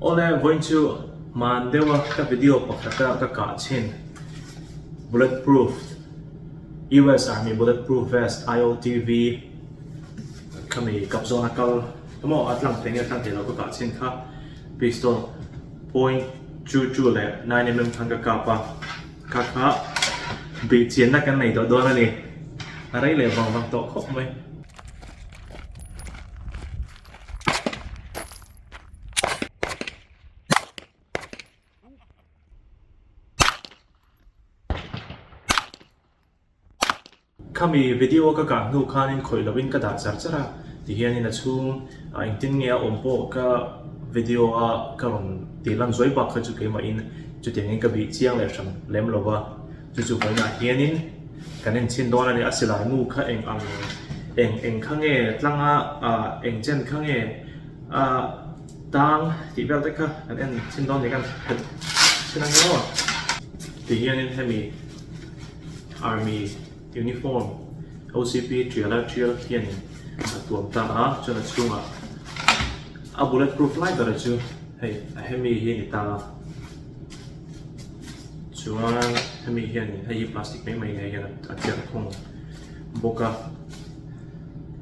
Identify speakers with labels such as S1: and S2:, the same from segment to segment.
S1: Awle vawiin chu man deuha ka video pakhata ka kah chhin bullet proof US army bullet proof vest IOTV khami kap zawna kal emaw a tlang theih nge tlang theih lo ka kah chhin kha pistol point two two leh nine mm khan ka kap a kha kha bih chian na kan nei tawh dawn a ni a rei leh vang vang tawh khawp mai. Khami video ka kah hnu khan in khawih lovin ka dah char char a, ti hian in a chhung ah engtin nge a awm pawh ka video a ka rawn tih lan zuai bak kha chu keimahin chutiang in ka bih chiang leh hran lem lo va. Chu chu huainah hianin kan enchhin dawn a ni, a silai nu kha eng ang, eng eng kha nge tlang a, ah eng chen kha nge a tang tih vel te kha kan enchhin dawn a ni kan he chin ang maw? Ti hianin hemi Army uniform OCP tiala tial hianin a tuam ta a, chuan a chhungah a bullet proof lai bera chu hei a hemi hi a ni ta a. chuan hemi hianin hei hi plastic mai mai neiin a tial khawng bawk a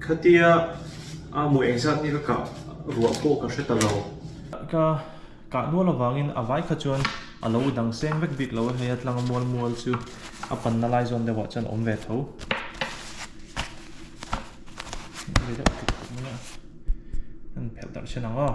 S1: khatia a mawi eng zat hi ka kah ruah pawh ka hre ta lo ka kah nual avangin a vai kha chuan a lo dang seng vek bik lo a hei a tlanga mual mual chu a panna lai zawn deuhah chuan a awm ve tho an phelh darh che ang aw.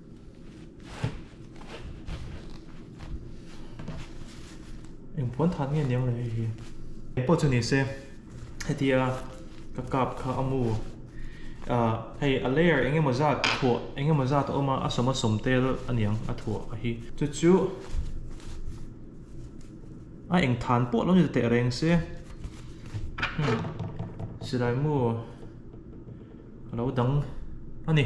S1: Eng puan than nge niang le hei hi. Kei pawh chu ni se hetia ka kap kha a mu ah hei a layer eng emaw zat thuah eng emaw zat a awm a a sawma sawm tel a niang a thuah a hi chu chu a eng than pawh lo ni ta teh reng se hmm silai maw. A lo dang a ni.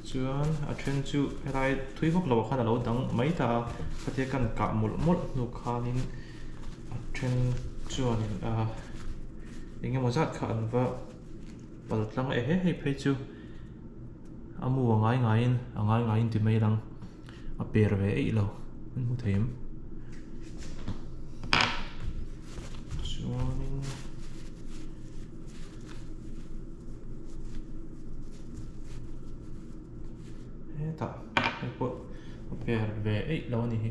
S1: Chuan a then chu helai thui vak lo ah khan a lo dang mai ta a. Khawtia kan kah mawlh mawlh hnu khanin a then chuanin ahh eng emaw zat kha an va pal tlang e he hei phei chu. A mu a ngai ngaiin a ngai ngaiin ti mai a lang. a per ve eih lo kan hmu thei chuanin hetah heipawh a per ve eih lo a ni hi.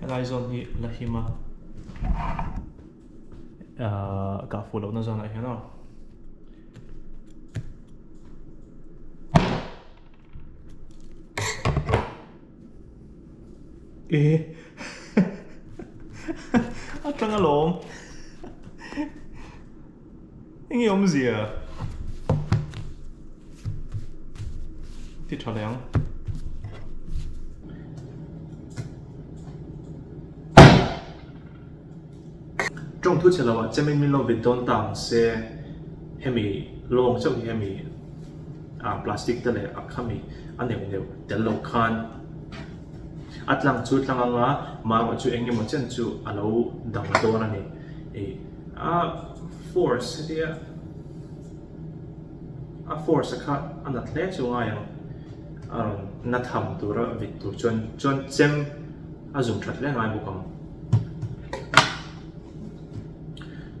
S1: Helai zawn hi Lahima kah fuh lohna zawnah hian aw. Eh. Atanga lawm. Eng i awmzia? Ti tha leh ang. Tawng thu che lo a, chemin min lo vit dawn ta ang se, hemi lawng chauh hi hemi ah plastic te leh a khami a neuh neuh tel lo khan a tlang chu tlang anga mah erawh chu eng emaw chen chu a lo dang dawn a ni. A force hetia a force a kha a nat hle chu ngai ang a rawn na tham tur a vit tur chuan chuan chem a zum that hle ngai bawk ang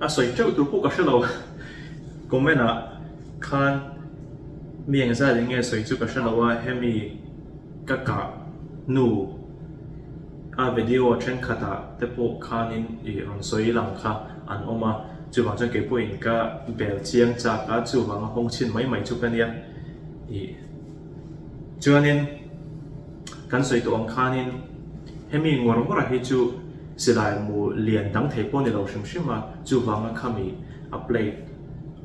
S1: a sawi teuh tur pawh ka hre lo comment ah khan mi eng zat eng nge sawi chu ka hre lo a hemi ka kah nu A video thenkhatah te pawh khanin i rawn sawi lang kha an awm a, chuvang chuan kei pawhin ka bel chiang chak a, chuvang a hawng chhin mai mai chu ka nia. Ih chuanin kan sawi tawh ang khanin hemi ngawr ngawrah hi chu silai mu lian dang thei pawh ni lo hrim hrim a, chuvanga khami a plate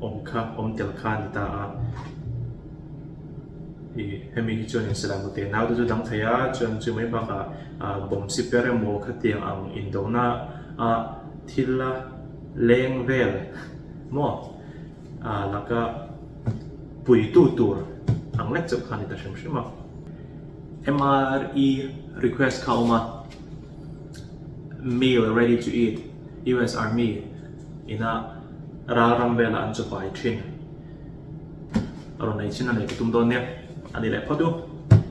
S1: awm kha awm tel kha a ni ta a. I hemi hi chuan insalah mute nau te chu dang thei a, chuan chu mai bak ah bomb siper emaw khatiang ang indo na a thil a leng vel maw a laka puitu tur ang lek chauh kha ani ta hrim hrim a. MRE request kha a awm a, meal ready to eat, US Army ina ral ram vel ah an chaw pai thin. A rawn ei chin a nei ka tum dawn nia. A nih leh phawt u.